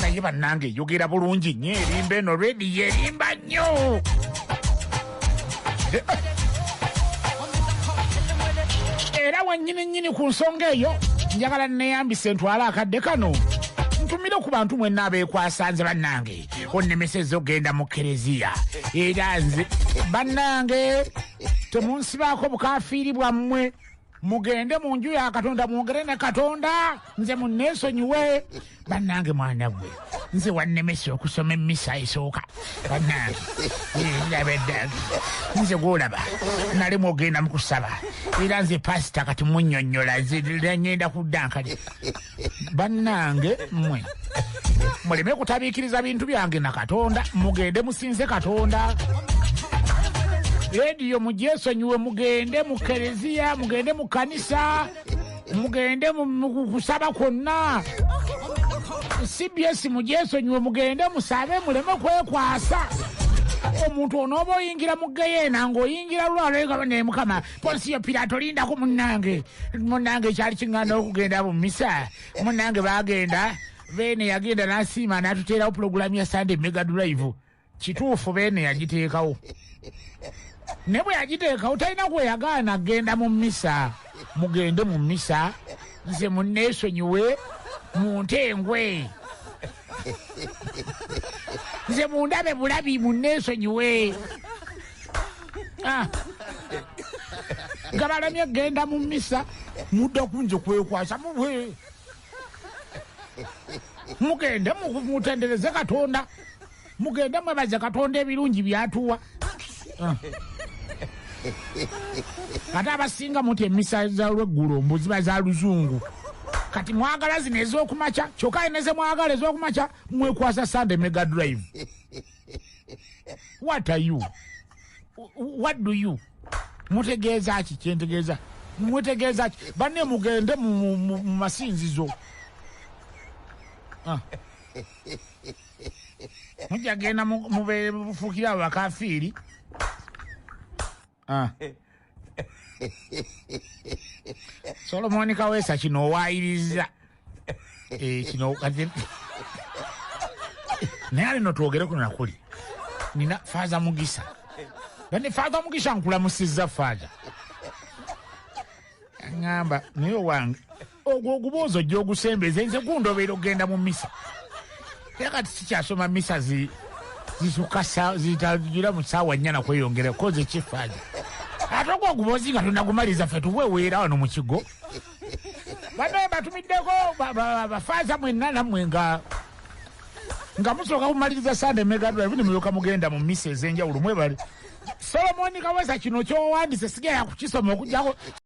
naye bannange eyogera bulungi nnyo erimba eno redi yerimba nnyo era wenyini nyini ku nsonga eyo njagala neyambise ntwala akadde kano ntumire ku bantu mwenna abeekwasanze bannange onnemeseza okugenda mu kereziya era nze bannange temunsibaako bukafiiri bwammwe mugende mu nju ya katonda mwogere ne katonda nze munneesonyiwe bannange mwana gwe nze wannemesa okusoma emmisa esooka bannange ndaba eddange nze gwolaba nali mwogenda mu kusaba era nze pasita kati munnyonnyola nze ngenda kudda nkale bannange mmwe muleme kutabiikiriza bintu byange na katonda mugende musinze katonda rediyo mugyesonyiwe mugende mu kereziya mugende mu kanisa mugende mukusaba kwonna cbs mugyesonyiwe mugende musabe muleme kwekwasa omuntu onooba oyingira mu geyeena ng'oyingira lwalwegaba naye mukama ponsiyo piraato lindako munnange munnange ekyali kiŋŋanda okugenda mu misa munnange baagenda beene yagenda n'asiima n'atuteerawo pulogulaamu ya sande mega drive kituufu beene yagiteekawo ne bwe yagiteekawo talina gwe yagaana genda mu misa mugende mu misa nze munneesonyiwe mu nte engwe nze mundabe bulabi munneesonyiwe ah. nga balamye genda mu misa mudda kunze kwekwasa mubwe mugende mutendereze katonda mugende mwebaze katonda ebirungi byatuwa ah. ate abasinga muti emisa zalweggulo mbu ziba za luzungu kati mwagala zino ezokumakya kyokka eneze mwagala ezokumakya mwekwasa sande mega drive what are you what do you mutegeeza ki kyentegeeza mutegeeza ki banne mugende mu masinzizo ah. mujja genda mubefuukira abo bakafiiri ah. solomoni kaweesa kino owayiriza eh, kino kati naye alino twogere kuno nakuli nina faaza mugisa bane faaza mugisa nkulamusizza faaza ŋŋamba naye owange ogwo oguboozi ojja ogusembeza nze gundobeera okugenda mu misa era kati sikyasoma misa zisuka zitagira mu ssaawa nnya nakweyongera koza ekifaaja ate ogwo oguboozi nga tunagumaliriza ffe tuweweera wano mu kigo banaye batumiddeko bafaaza mwenna nammwe nga nga musooka kumaliriza sande megadwa ebuni muyoka mugenda mu misa ez'enjawulo mwebale solomoni kawesa kino kyowandise sigera kukisoma okujjako